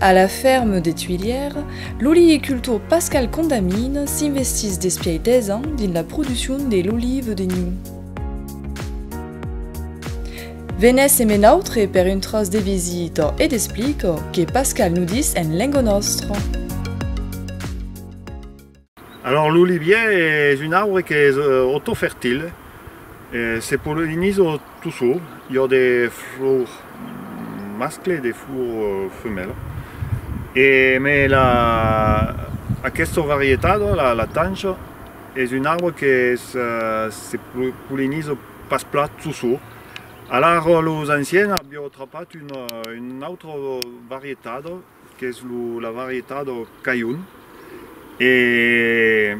A la ferme de Tuilièr, l'olivicultor Pascal Condamine s'investís despiai 10 ans dins la produccion de l'olive de niu. Venèsse me nautre per un tròç de visita e d'explica que Pascal nudís en lenga nòstra. Alors l'olivier es un arbre qu'es autofertile, se polliniza tout seul, i a de flors mascle e de flors femèla e mai la aquesta varietat la tanja es un arbre que se polliniza pas plat tout seul, alara los anciens avián trapat una autra varietat. qu'es la varietat o cailhoun e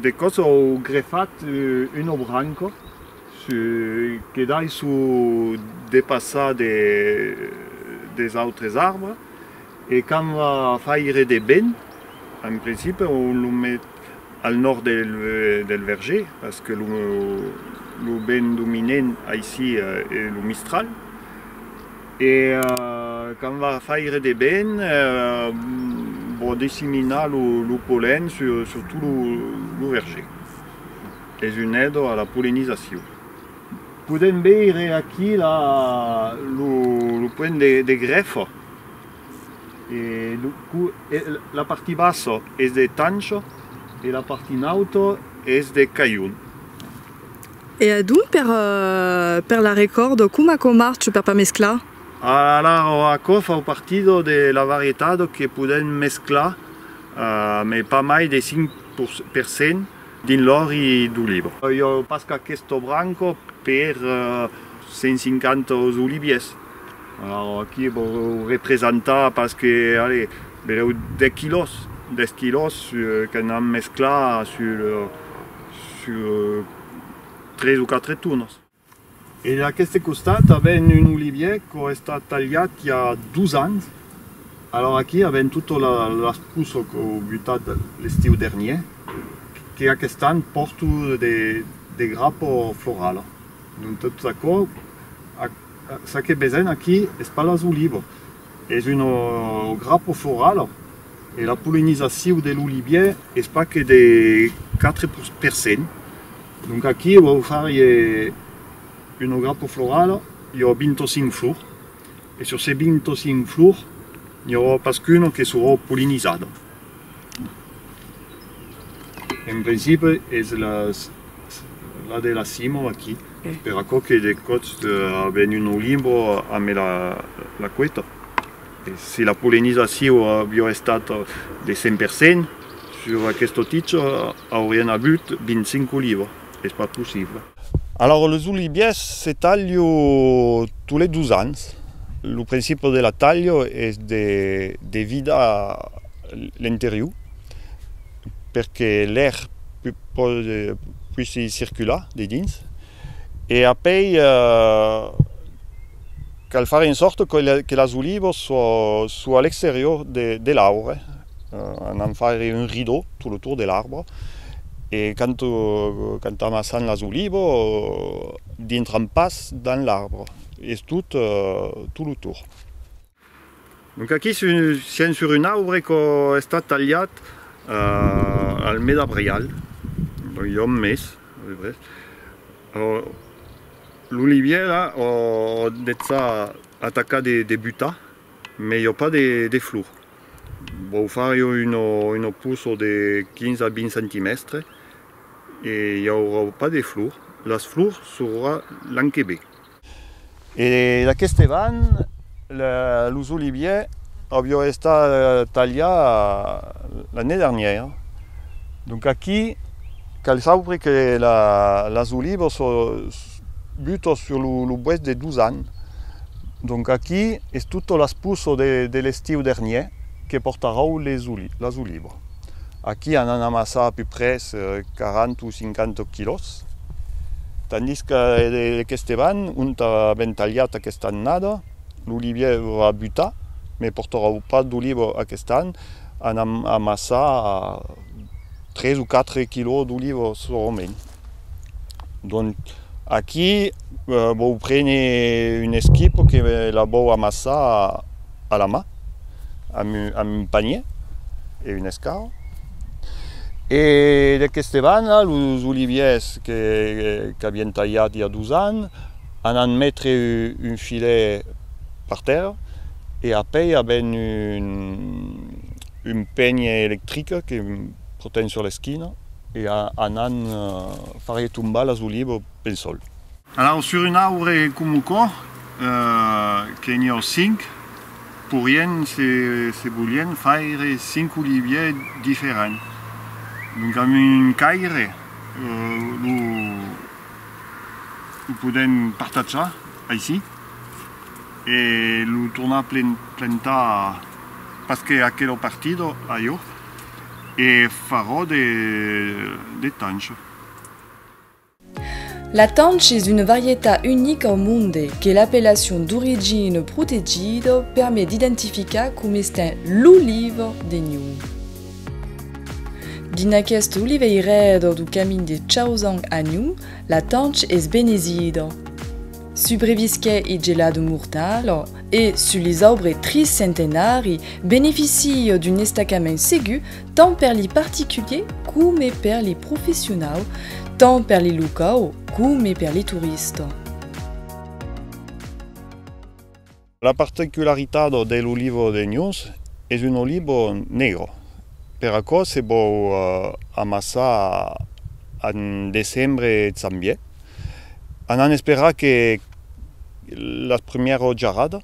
de còps au grefat una branca que daissou depassar des autres arbres e quand va faire de vent en principe on lo met al nòrd del verger parce que lo vent dominent aicí es lo mistral E quand va faire de ben, vò disseminar lo pollen sur tot lo verger. Es un èdo a la pollenizacion. Podèm veire aquí lo point de grèfa. La parti bassa es de tancho e la parti nauta es de cailhon. E adonc per per la recòrdo coma quò marche per pas mesclar? Alara o aquò fa partido de la varietat que podèm mesclar mai pas mai de 5 per cent dins l'òri d'oliva. Iò pas qu'aquesto branco per 150 os oliviers alara aquí vò representar pas que allez belèu 10 quilòs 10 quilòs qu'an mesclar sul Sur tres o quatre torns. E d'aqueste costat avèm un olivièr qu'a estat talhat i a dos ans. Alòra aquí avèm tota las poças qu'au butat l'estiu dernièr, que aquest an pòrto de grapa florala. Dont tot aquò, ça que vesèm aquí es pas las olivas. Es un grapo floral e la polinizacion de l'olivier es pas que de 4 per cent. Donc aquí vau farier un grapo floral, i aurà 25 flors e sur se 25 flors n'i aurà pas qu'una que serà polinizada. En principi es la de la cimo aquí, per aquò que de còps a venut lo limbo a me la queta. Si la polenizacion aviá estat de 100% sus aqueste ticho aurián avut 25 olivas. es pas possible. Alòrs los oliviers se talho tot les dos ans, lo principe de la talho es de de vidar l'interior perque l'air poissi circular dedins e apei Cal far en sòrta que las olivas son a l'exterior de l'arbre, anant faire un rideau tot lo tour de l'arbre e quand amassan las olivas dintran pas dins l'arbre es tot lo tour. Donc aquí sien sur un aubre qu' a estat talhat al mes d'abrial, donc i a un mes a peu pres, l'olivier la o detzà atacar de butar mais i a pas de flor, vau far jo un poço de 15 a 20 centimèstres e i aurà pas de flor, las flors s'aurà l'an que ve. Marc. E d'aqueste van, los oliviers avió estat talhar l'année dernière. Donc aquí cal sauvre que las olivas butan sur lo bois de dos ans. Donc aquí es tota las poças de l'estiu dernier que portarau las olivas. Aquí an an amassar a peu près 40 o 50 quilòs, tandís que lec Esteban, ont avèm talhat aquesta annada, l'olivièr a butar, me portaròu pas d'oliva aquest an, an an amassar 3 o 4 quilòs d'oliva solament. Donc aquí vòu prene un esquip que la vòu amassar. a la mà amb un panier e un escau e d'aqueste banda los oliviers qu'avièn talhat i a dos ans anant metre un filet per tèrra e apèi avèn un penier electric que protèn sur l'esquina e anant far tombar las olivas pel sòl. Alau sur un aure comu quò, que n'i ò cinc, pourrien, se se volien, faire cinc oliviers diferents. Donc amb un caire lo lo podèm partatjar aicí e lo tornar plantar pas que aquela partida ajo e farò de de tancho. La tanch es una varietat unica au monde que l'appellation d'origine protegida permet d'identificar com estent l'oliva de Niu. Dins aqueste oliveirèr du camin de Chaozang a Niu, la tanch es benezida. Subrevisquè i gelada mortala e, sus les aubres triscentenari, beneficia d'un estacament segur tant per li particuliers coma per li professionau, tant per li locau coma per li turista. La particularitat de l'olivo de Nus es un olivo negre, per aquò se bòu amassar en decembre e zanvier, anant esperar que las primièras jarradas.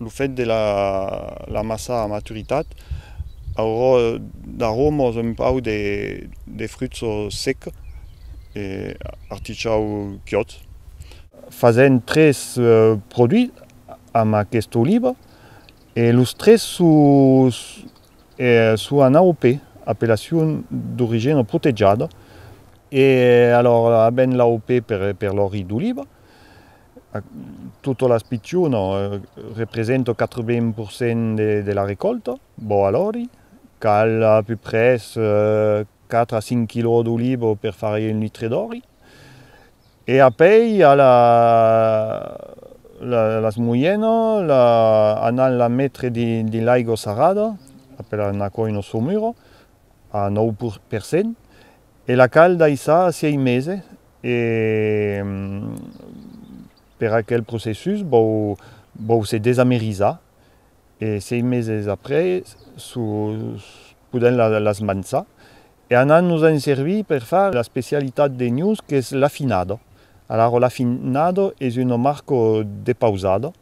Lo fet de la massa a maturitat aurò d'aromos un pauc de fruits sec e artichau chiòt. Fasèm tres produits amb aquesta oliva e los tres son en AOP, Appellacion d'origina protegiada, e alòra avèm l'AOP per l'òli d'oliva. Totas las pichonas representan 80% de la recòlta. Bon, alòri, cal a peu près 4 a 5 quilòs d'oliva per far un litre d'òli. E apèi i a las moianas, anant las metre dins l'aiga sarrada, apèlan aquò una saumura, a 9%. E la cal daissar a sièi mese e per aquel processus vòu vòu se desamerizar e sièi meses après su podèm la las mançar e anant nos en servir per far la specialitat de nus qu'es l'afinado alaro l'afinado es uno marco de pausado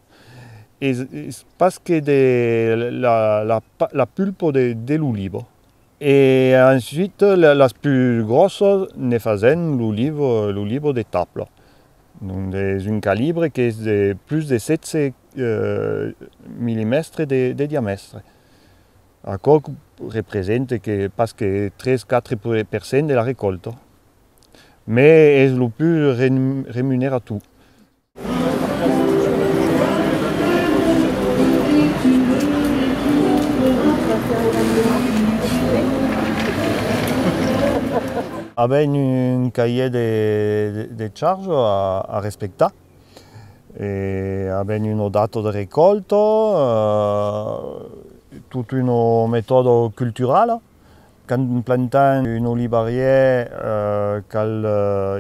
es pas que de la la la pulpo de l'olivo E ensuite las plus gròssas ne fasèm lo livre, lo livre de tabla, donde es un calibre qu'es de plus de 16 millimèstres de diamèstre. Aquò represente que pas que 3, 4 per cent de la recòlta, mes es lo plus remunerator. Avèm un cahier de charge a respectar e avèm una data de recòlta, tota una metòda culturala. Quand plantam un olivarièr cal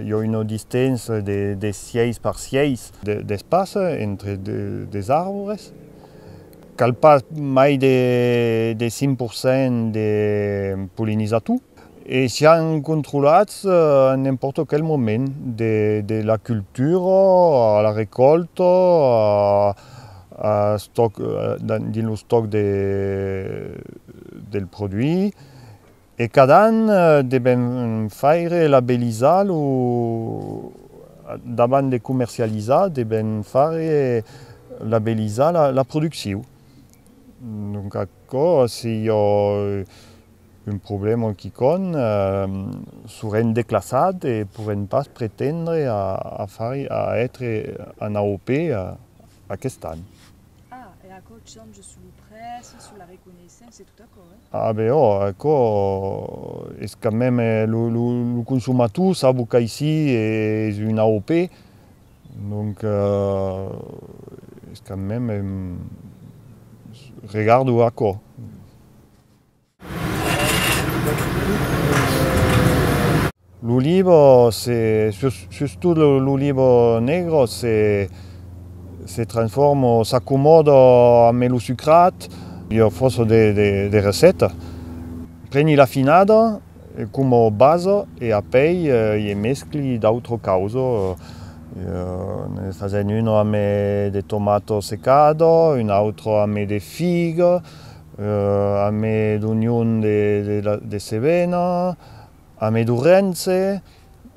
jo una distància de 6 per 6 d'espaça entre dos arbres, cal pas mai de 5 per cent de polinizator e sián controlats a n'empòrta quel moment, de la cultura a la recòlta, dins lo stoc del produit e cada an deben faire labelizar lo davant de comercializar deben faire labelizar la produccion donc aquò si jo Un problèma en quicòm surèn declassat e pourèn pas pretendre a far a ètre en AOP aqueste an. Ah, e aquò change sus lo prèci, sus la reconeissença e tot aquò, eh? Ah ben òh, aquò es quand mème lo consomator sabo qu'aicí es un AOP, donc es quand mème regardo aquò. Lo libro se, sustot lo libro negro se, se transformo, s'accomòdo a me lo sucrat, io fosso de, de, de receta, preni la finada como basa e apei ie mescli d'autro causo, io ne fazen uno a me de tomato secado, un autro a me de figa, Amé d'Union de Cevena, amé d'Ourense,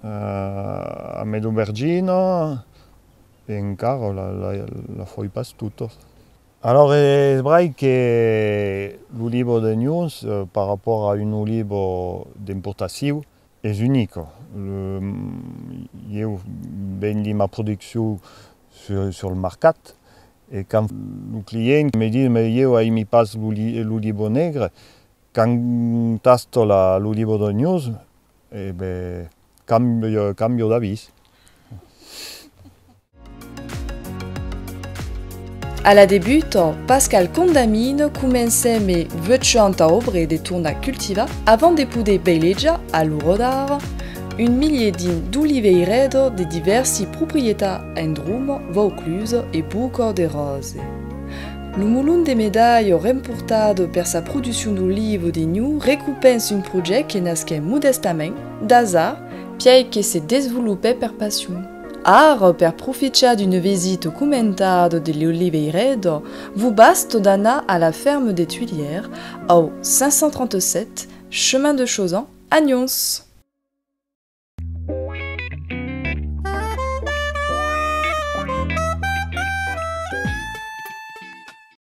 amé d'Aubergina, e encara la foi pas tota. Alòr es brai que lo libo d'Unions, par rapòrt a un libo d'importaciu, Es unico. Ieu vendi ma produccion sur le marcat e quand lo client me dis mai ieu aimi pas l'olivo negre, quand tasto l'olivo d'ognós, e ben cambio d'avis. A la debuta, Pascal Condamine comencè me veuchant a obre de tornar cultivar avant de poder veilejar a lo rodar un milier dins d'oliveirèd de divèrsi proprietat en Droma, Vauclusa e Bocor de Rose. Lo molon de Medailh remportat per sa produccion d'oliva de Niu recupens un projèct que nasquè modèstament, d'asar, piai que se desvolopè per passion. Ara, per profichar d'un vesit comentado de l'Oliveiredo, vos basta d'anar a la ferme des Tuilières, au 537 chemin de Chauzan, a Nyons.